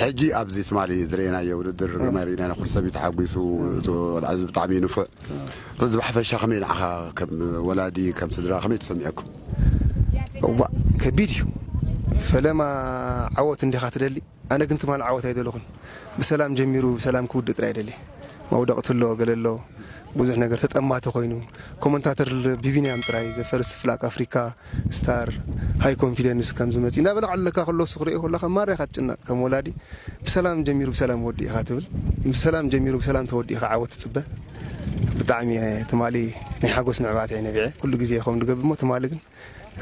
ሕጂ ኣብዚ ትማሊ ዝረኤናዮ ውድድር ግርማይ ርኢናዮ ኩሉ ሰብ እዩ ተሓጒሱ እቲ ቆልዓ እዚ ብጣዕሚ እዩ ንፉዕ ስለዚ ብሓፈሻ ከመይ ንዓኻ ከም ወላዲ ከም ስድራ ከመይ ተሰሚዑኩም? እዋእ ከቢድ እዩ ፈለማ ዓወት እንዲኻ ትደሊ ኣነ ግን ትማሊ ዓወት ኣይደለኹን ብሰላም ጀሚሩ ብሰላም ክውድእ ጥራይ ደልየ መውደቕቲ ኣሎ ገለ ኣሎ ብዙሕ ነገር ተጠማቲ ኮይኑ ኮመንታተር ብቢንያም ጥራይ ዘ ፈርስት ፍላግ ኣፍሪካ ስታር ሃይ ኮንፊደንስ ከምዚ መጺኡ እንዳ በላዓለካ ከሎ እሱ ክርእዮ ከሎ ከኣ ማራ ኢካ ትጭነቅ ከም ወላዲ ብሰላም ጀሚሩ ብሰላም ወዲኡ ኢካ ትብል ብሰላም ጀሚሩ ብሰላም ተወዲኡ ኢካ ዓወት ትጽበ ብጣዕሚ ኢየ ትማሊ ናይ ሓጎስ ንዕባት ኢየ ነቢዐ ኩሉ ግዜ ኢየ ከምኡ ድገብር እሞ ትማሊ ግን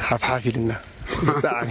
ሓፍ ሓፍ ኢልና ብጣዕሚ